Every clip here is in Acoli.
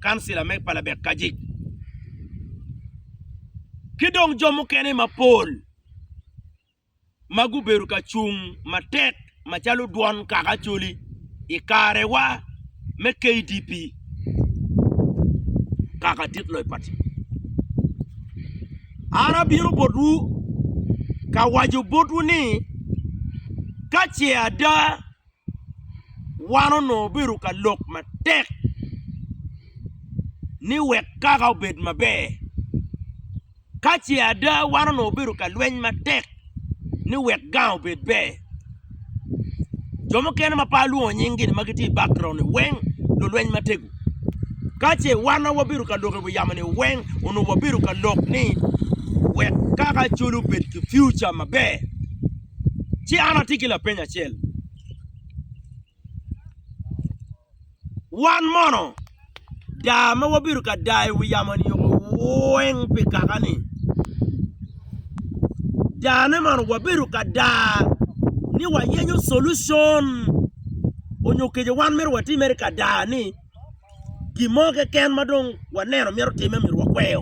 kancila me palabek Kajic, ki dong jo mukene mapol ma gubedo ka cung matek macalo dwon kaka Acholi i karewa me KDP kaka dit loyo pati. An abino botwu ka waco botwu ni ka ce ada, wan onongo obedo ka lok matek ni wek kaka obed maber. Ka ce ada wan onongo obedo ka lweny matek ni wek gang obed ber. Jo mukene ma pe alwongo nyinggi ma gitye i bakgroundi weng lulweny matego. Ka ce wan ma wabedo ka lok i wi yamo-ni weng onongo wabedo ka lok ni wek kaka calo obed ki piuca maber. Ci an atye ki lapeny acel, Wan mono daa ma wabedo ka daa i wi yamo-ni weng pi kaka-ni, daane mono wabedo ka daa ni wayenyo colution onyo kece wan myero watim mere ka daa-ni? gin mo keken ma dong waneno myero otimme myero wakweyo.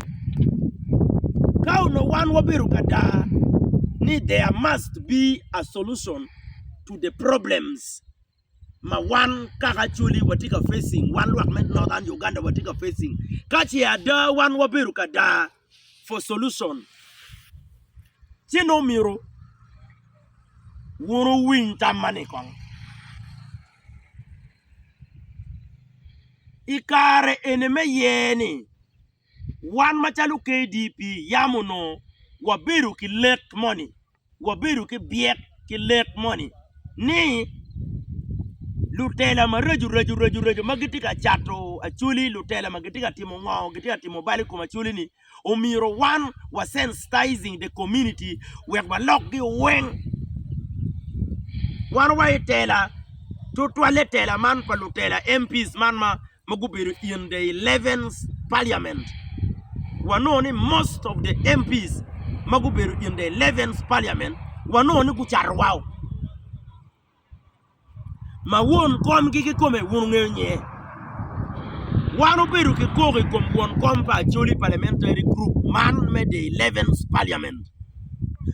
Ka onongo wan wabedo ka daa ni there must be a solution to the problems ma wan kaka Acholi watye ka facing, wan lwak me Northern Uganda watye ka facing, ka ce ada wan wabedo ka daa for solution ci nongo myero wun owiny tam mani kong. I kare eni me yer-ni, wan macalo KDP yam onongo wabedo ki lek moni, wabedo ki byek ki lek moni ni lutela maraco raco ma gitye ka cato acwali, lutela ma gitye ka timo ngo, gitye ka timo bal i kom acwali-ni. omyero wan wa sensitizing the community wek walok gi weng wan wa i tela tutwalle tela man pa lutela MPs man ma gubedo in the 11 parliament wanongo ni most of the MPs ma gubedo in the 11 parliament wanongo ni gucato wao ma won komgi kikome wun wungeyo nye. Wan obedo ki koko i kom won kom pa Acholi Parliamentary Group man me the Eleventh Parliament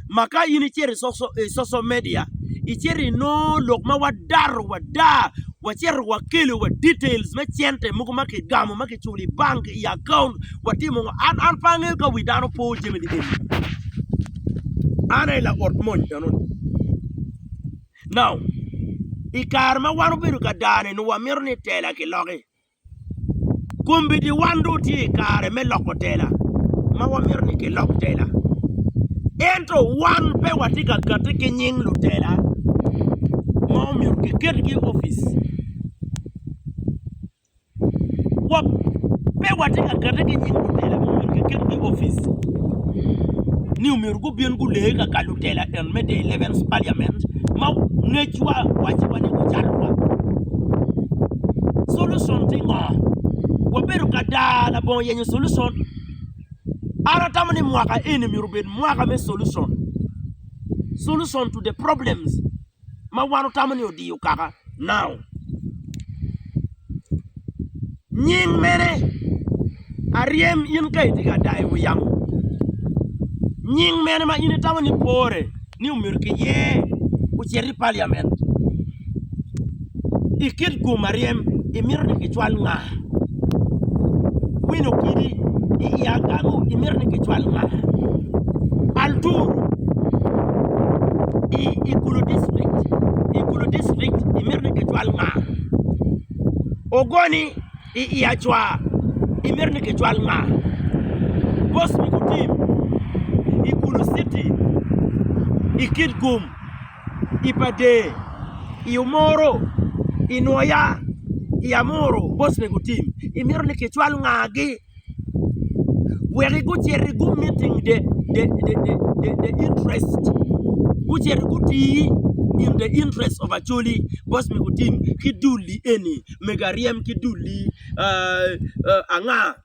ma ka in icito i social media icito inongo lok ma wadato wada wacito wakelo wa details me cente mogo ma kigamo ma kiculo i bank i akaunt watimo ngo an an pe angeyo ka wi dano po jami ni eni an aye laot mony enoni. I kare ma wan obedo ka dane onongo wamito ni tela kiloki. Kombeddi wan dong watye i kare me loko tela ma wamito ni kilok tela ento wan pe watye ka kati ki nying lutela ma omyero kiketgi i opic. wa pe watye ka kette ki nying lutela ma myero kiketgi i opic ni omyero gubin gulee ka ka lutela en me the eleventh parliament ma ngecwa waco wa ni gucalo wa solution tye ngo? wabedo ka daa labongo yenyo solution an atamo ni mwaka eni myero obed mwaka me solution, solution to the problems. ma wan watamo ni odiyo kaka nao nying mene aryem in ka itye ka dayo wi yamo nying mene ma in itamo ni pore ni omyero kiyer ocit i paliament. I kit gum ma ryem, imito ni kicwal nga? Kwino kidi i i agamo, imito ni kicwal nga? Altur i i Gulu district, i Gulu district, imito ni kicwal nga? Ogoni i i Acwa, imito ni kicwal nga? Bosmikutim i Gulu city, i kit gum. i pa der i omoro i nwoya i amuru boston gu tim i mito ni ki cwal nga gi wek i gucit i gum me tim de de de de de interest gucit i guti in the interest of acholi boston gu tim ki dul li eni mego aryem ki dul li aa anga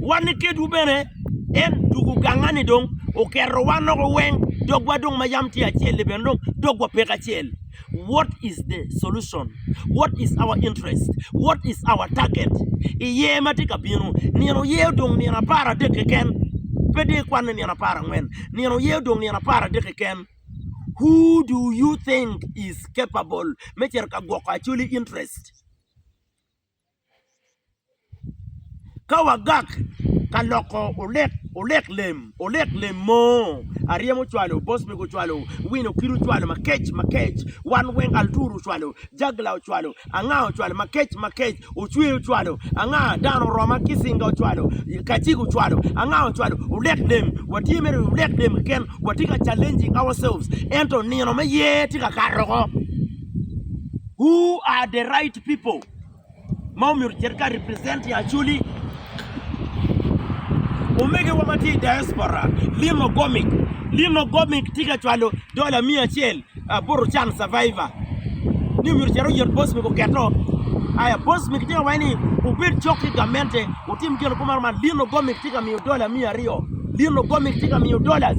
Wan ni kedwu bene, en tugo gangani dong oketo wan oko weng dogwa dong ma yam tye acel ni bene dong dogwa pe kacel what is the solution what is our interest what is our target iye ma tye ka bino nino oye odong nino apar adek keken pe dong ikwane nino apar angwen nino oye odong nino apar adek keken who do you think is capable me cito ka gwoko actually interest Ka wagak ka loko olek lem, olek lem mo, Aryem ocwalo, Bosbek ocwalo, Wine Okir ocwalo, Makec, Makec, wan weng, Altur ocwalo, Jagla ocwalo, Anga ocwalo, Makec, Makec, Ocwe ocwalo, Anga, Dano oroma, Kisinga ocwalo, Kacik ocwalo, Anga ocwalo, olek lem, watye mere olek lem keken, watye ka challenging ourselves, ento nino me yer tye ka kato oko. Who are the right people ma omyero ocit ka represent i Acholi? Omegiwa ma tye i diaspora, Lynn Ogomik. Lynn Ogomik tye ka cwalo dola miya acel, Aburu Chan Survivor, ni omyero ocit oyot Bosmic oketo. Aya Bosmic tye ka waco ni obed cok ki gamente otim gin kumaro man. Lynn Ogomik tye ka miyo dola miya aryo. Lynn Ogomik tye ka miyo dollars.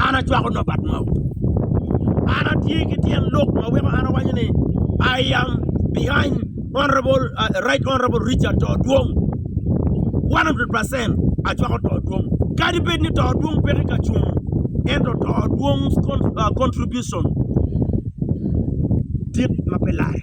an acwako nobat mau, an atye ki tyen lok ma weko an awaco ni I am behind right honourable Richard to dwong one hundred percent acwako to dwong kadi bed ni to dwong peke ka cung ento to dwong contribution tye ma pe lare.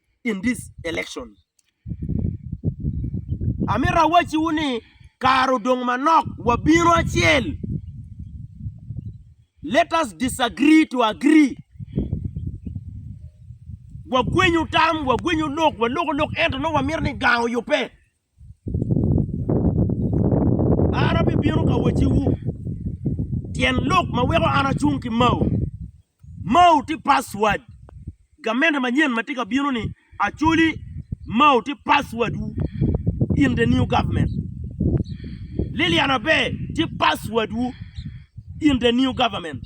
in this election. Amito awacciwu ni kare odong manok wabino acel. Let us disagree to agree. Wagwenyu tam, wagwenyu lok, waloko lok ento nongo wamito ni gang oyubbe. An abibino ka wacciwu tyen lok ma weko an acung ki Mao. Mao tye password gamente manyen ma tye ka bino ni actually Mao tye password wu in the new government. Lilian Abe tye password wu in the new government.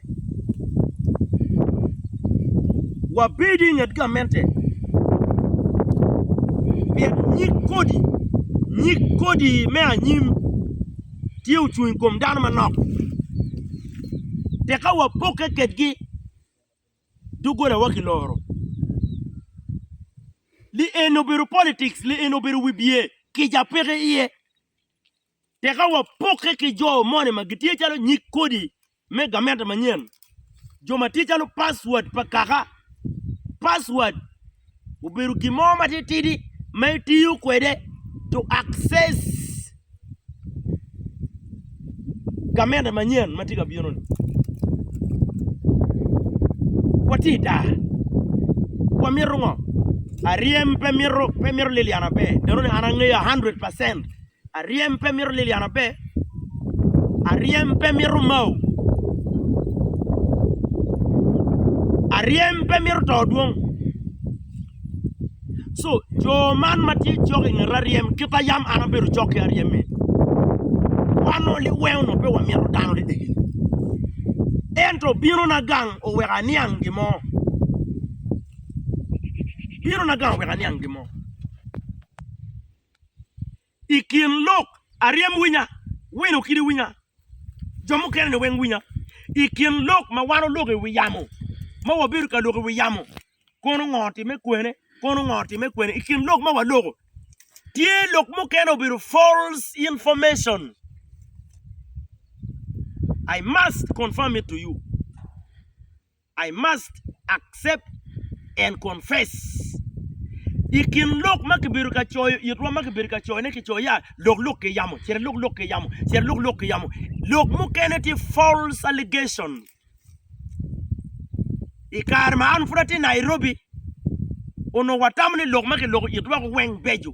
Wabedo i nget gamente pien nyig kodi me anyim tye ocung i kom dano manok tekka wapokke kwedgi doggolawa kiloro lieno obedo politik lieno obedo wibye kica peke iye. Tika wapokke ki jo moni ma gitye calo nyig kodi me gamente manyen, jo ma tye calo password pa kaka? Password obedo gin mo matitidi ma itiyo kwede to access gamente manyen ma tye ka bino-ni. Watye i daa, wamito ngo? Aryem pe mito lilya maber, nenoni an angeyo a hundred percent Aryem pe mito Lilian maber. Aryem pe mito Mao. Aryem pe mito to dwong. So, jo man ma tye cok i nget Aryem, kit a yam an abedo cok ki Aryem ni, wan o liweng onongo pe wamito dano dedegi. Ento binona gang oweko aniang gin mo. Binona gang oweko aniang gin mo. I kin lok aryem winya, wino kidi winya, jo mukene ni weng winya. I kin lok ma wan oloko i wi yamo, ma wabedo ka loko i wi yamo, kono ngo otime kwene, kono ngo otime kwene. I kin lok ma waloko, tye lok mukene obedo false information. I must confirm it to you. I must accept and confess I kin lok ma kibedo ka coyo itwa ma kibedo ka coyone kicoyo ya lok lok ki yamo cito lok lok ki yamo cito lok lok ki yamo lok mukene tye false allegation I kare ma an pud atye Nairobi onongo watamo ni lok ma kiloko itwa weng beco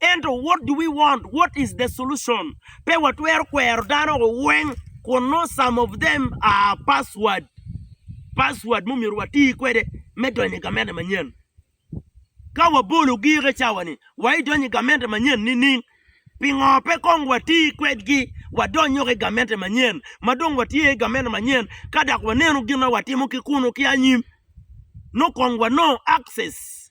Ento what do we want? What is the solution? Pe watwero kwero dano weng kun nongo some of them are password, password ma omyero wati kwede me donyo i gamente manyen. Ka wabolo gire cawa-ni, wa idonyo i gamente manyen nining? Pingo pe kong wati kwedgi wadonyo ki i gamente manyen ma dong watye i gamente manyen ka dok waneno gin ma watimo ki kunu ki anyim nongo kong wanongo access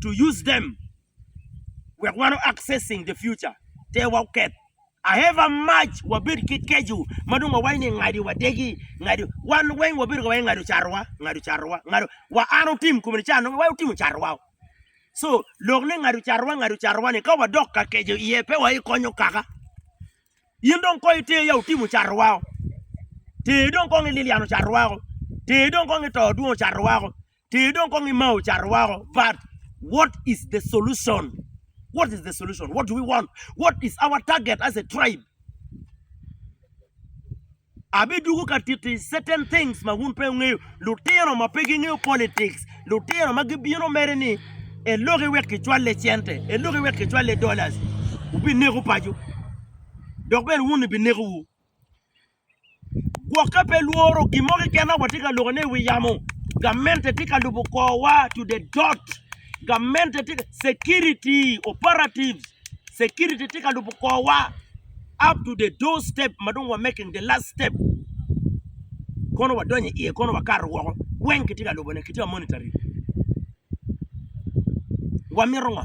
to use them wek wan o accessing the future te wa oketh I have a much wabed ki keco ma dong wawaco ni ngadi wadegi ngadi wan weng wabedo ka waco ni ngado carowa ngado carowa ngado wa an otim kome ni ca nongo wa otimo carowa so lok ni ngado carowa ngado carowa ni ka wadok ka keco iye pe wa ikonyo kaka in dong kong iter ya otimo carowa ter dong kong ililiano carowa ter dong kong ito dwongo carowa Ter dong kong ima ocato wako but what is the solution? What is the solution? What do we want? What is our target as a tribe? Abi dugu ka titi certain things ma wun pe wungeyo. Lutino ma pe gingeyo politics, lutino ma gibino mere ni eloki wek kicwalle cente, eloki wek kicwalle dollars, wubi neko paco. Dok bene wun ni bi neko wu. Gwok ka pe lworo, gin mo keken ma watye ka lwokone i wi yamo, gamente tye ka lubo korwa to the dot. Gamente tye ka, security operatives, security tye ka lubo korwa up to the door step ma dong wa making the last step. Kono wadonyo iye, kono wakato woko, weng kitye ka lubone, kitye ka monitoring. Wamito ngo?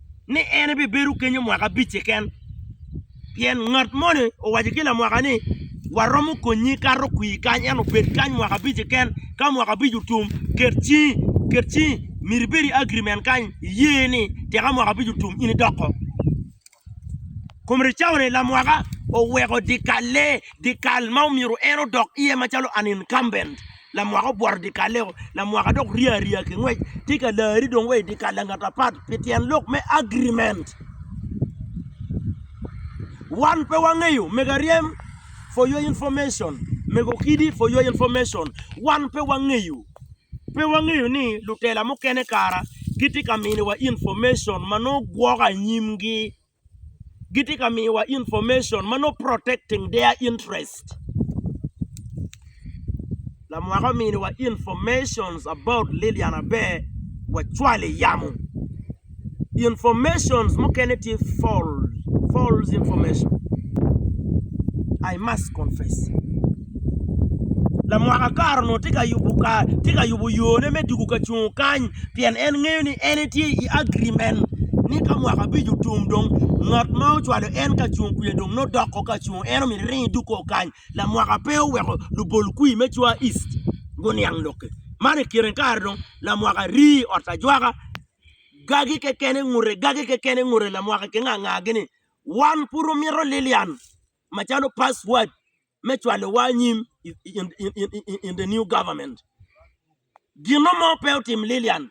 ni en ebibedo kenyo mwaka abic keken, pien ngat moni owaco ki lamwaka ni, 'Waromo konyi ikato kwir kany, ento bed kany mwaka abic keken. Ka mwaka abic otum, ket cingi, myero ibed i agrimen kany, iye ni tek ka mwaka abic otum in idoko. Kum ricau-ni, lamwaka oweko dyekalle, dyekal ma myero en odok iye macalo an incumbent. Lamwaka obworo dyekal-leo, lamwaka dok rye arya ki ngwec, tye ka lari dong wa i dyekal langat apat pi tyen lok me agirimen. Wan pe wangeyo, mego aryem, for your information, mego kidi, for your information, wan pe wangeyo, pe wangeyo ni lutela mukene kara gitye ka miniwa information ma nongo gwoko anyimgi. gitye ka miyowa information ma nongo protecting their interest. Lamwaka ominiwa information about Lilian Aber wacwalo i yamo. Information mukene tye false information. I must confess. Lamwaka kare onongo tye ka yubo yone me dwogo ka cungo kany pien en ngeyo ni en etye i agirimen ni ka mwaka abic otum dong ngat ma ocwalo en ka cung kwija dong nongo doko ka cung en omyero ering idwog kong kany lamwaka pe oweko lubol kwi me Cwa East guniang lok-ki man i kine kare dong lamwaka ri i ot ajwaka gagi keken ngute gagi keken ngute lamwaka ki ngangagi ni wan pud wumito Lilian. macalo password me cwalo wa anyim in the new government gino mo pe otim Lilian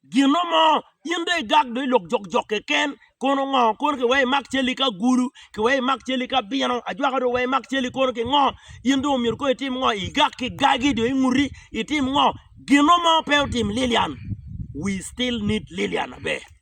gino mo in dong igak dong ilok jok jok keken kono ngo kono ki weko imak cali ki agulu ki weko imak cali ki abino ajwaka dong weko imak cali kono ki ngo in dong omyero kono itim ngo igak ki gagi dong inguti itim ngo gino mo pe otim Lilian we still need Lilian aber.